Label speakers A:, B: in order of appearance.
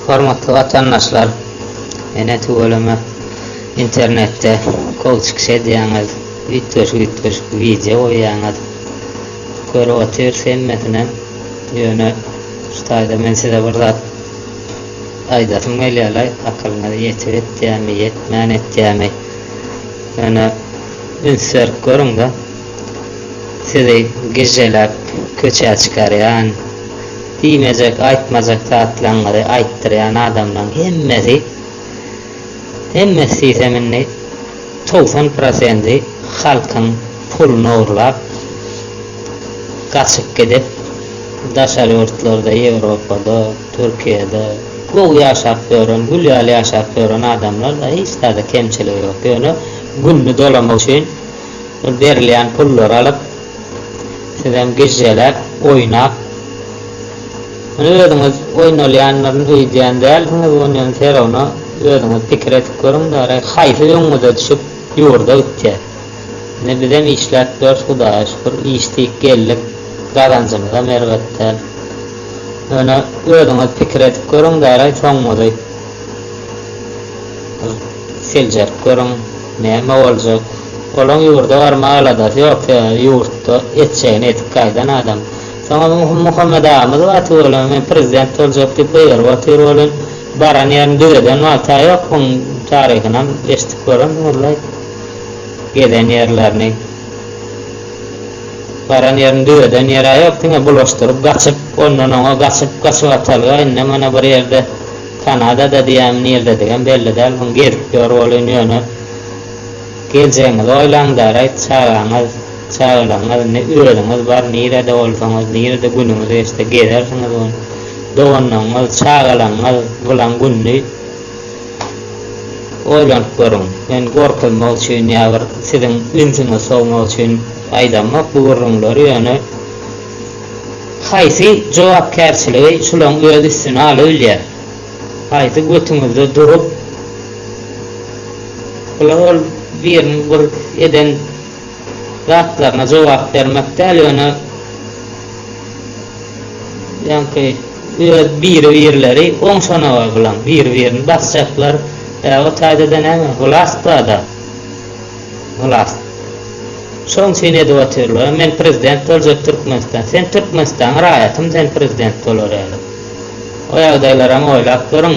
A: Hormatly watandaşlar ene tüweleme internetde kol çykyş edýäňiz üýtgeşik üýtgeşik wideo goýýaňyz görüp otyrys hemmesinem ýöne şu taýda men size bir zat aýdasym gelýärlaý akylyňyz ýetip etýämi ýetmän etýämi ýöne üns berip görüňda Sizi gižželäp köçä çykarýan, diýmejek, aýtmajak zatlaňyzy aýtdyrýan adamlaň hemmesi, hemmesi diýsem indi togsan prosendi halkyň puluny ogurlap, gaçyp gidip, daşary ýurtlarda, Ýewropada, Türkiýede gowy ýaşap ýören, gül ýaly ýaşap ýören adamlar-da hiç zada kemçiligi ýok. Ýöne gününi dolamak üçin. Şol berilýän pullary alyp, sizem gijjeläp, oýnap, muny özüňiz oýnalýandyryn öýdýän dälsiňiz, ony ýöne Serowna özüňiz pikir edip görüň daýry, haýsy öňňüze düşüp, ýurda gitýär. Indi bizem işläp ýörüs, Hudaýa şükür, işdik, geldik, gazanjymyzam erbet däl. Ýöne özüňiz pikir edip görüň daýry, soňuňyzy. Seljerip görüň, näme boljak. Olaň ýurda barmaga aladasy ýok, sebäbi ýurtda etjegini edip gaýdan adam. Soňam Muhammet agamyz bar tüweleme men prezident boljak diýip gygyryp otyr welin, baran ýerini düzeden wagta ýok, muň taryhynam eşidip görendiňizlaý gezen ýerlerini. Baran ýerini düzeden ýerä ýok, diňe bulaşdyryp gaçyp, ondan oňa gaçyp, gaçybatalga indi mana bir ýerde Kanadada diýýämi nirdedigem belli däl muň gezip ýör welin ýöne geljegiňizi oýlaň däraýt çagaňyz çagalaryňyz ne özüňiz bar nirede bolsaňyz nirede günüňiz geçse gezersiňiz muň doganlaryňyz çagalaňyz bulan gününi oýlanyp görüň men gorkuzmak üçin ýa bir siziň ünsüňizi sowmak üçin aýdamok bu gürrüňleri ýöne Haýsy jogapkärçiligi şulaň öz üstüne alybilýär? Haýsy götüňizde durup bular ol biriniň bir eden zatlaryna jogap bermek däl ýöne ýaňky öz biri birleri oň şonaga bulaň biri birini basjaklar bä o taýda da näme hulasbada. Ylas. Şoň üçin edip otyrlar. Men prezident boljak Türkmenistan. Sen Türkmenistanyň raýatymy sen prezident bolar ýaly. O ýagdaýlaram oýlap görüň.